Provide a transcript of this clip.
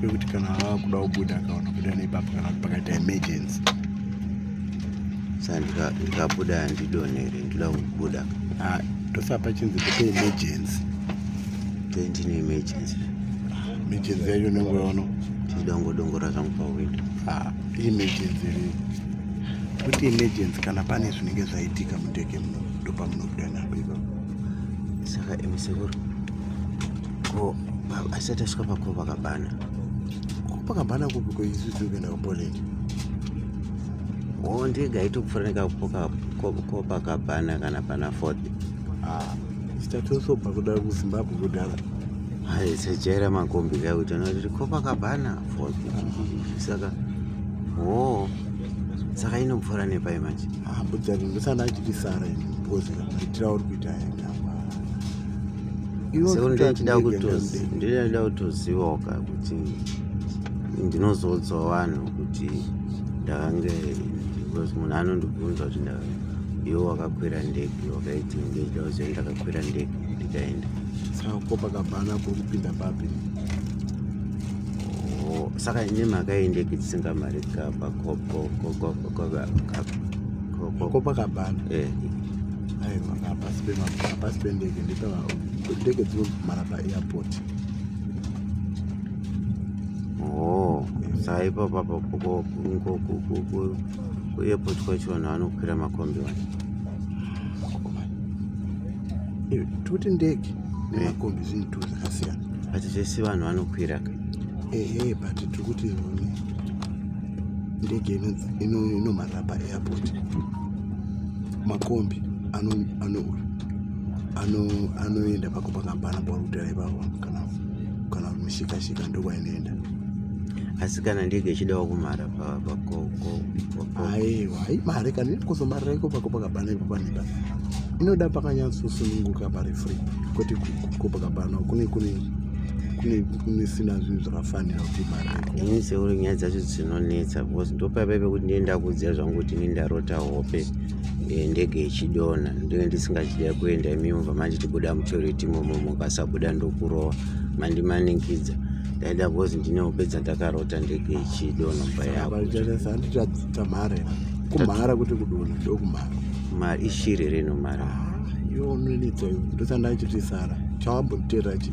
pekuti kana ava kuda kubuda akaona kuda nepapo kana kuti pakaita emergency saka ndikabuda handidonere ndida kubuda ah, tosa pachinzi kupe emergency tendine emergency emergency yacho unenge waona ndida kungodongora zvangu pawindow ah, emergency rii kuti emergency kana pane zvinenge zvaitika mundege muno ndopamunobuda napo ipapo saka emisekuru ko asati asvika pakopakabhana kopakabhana kupi koizuzu kuenda kupoland o ndege aitokufanira kupoka kopakabhana kana pana ford ah, sitatosobva kuda kuzimbabwe kudhara aisajaira makombi kaya kuti anoti kopakabhana ford saka o saka inopfuura nepai manje ah, budzani ndosana achiti sara ini because maitira uri kuita yanga seko ndochida kutozi ndochida kutozivawo ka kuti ndinozoudzawo vanhu kuti ndakange because munhu anondibvunza kuti iwe wakakwira ndege wakaiti ndochida kuziva ndakakwira ndege ndikaenda saka ko pakabhana kuri kupinda papi saka ine mhaka yendege dzisinga mari kabakopakabhana aiwa hapasi hapasi pendege ndepava ndege dzinomhara paairport oh saipo papa kuairport kwacho vanhu vanokwira makombi wani eh, toti ndege nemakombi eh. zvinhu tu zvakasiyana but zvese vanhu vanokwira ka ehe but tiri kuti ndege inomhara paairport makombi anoenda pako pakambana pauri kutera ipapo kana kana mushikashika ndokwainoenda asi kana ndege ichidawo kumhara pakoaiwa haimhare kana ikuzomarira iko pako pakabana ipo paneba inoda pakanyatsosununguka pari free kwete ko pakabana kune kune kune kunisina zvinhu zvakafanira kuti ibarekoiseuri nyaya dzacho dzinonetsa because ndopaipa pekuti ndee ndakuudzira zvangu kuti ini ndarota hope eh, ndege ichidonha ndinge ndisingachida kuenda imi mubva manje tibuda mutoreti imomo mukasabuda ndokurova mandimanikidza ndaida because ndine hope dzandakarota ndege ichidonha mba yakotamhare kumhara kuti kudonha ndokumhara mari ishiri reno mari ah, yo nonetsa yo ndosandachiti sara chawambotera chii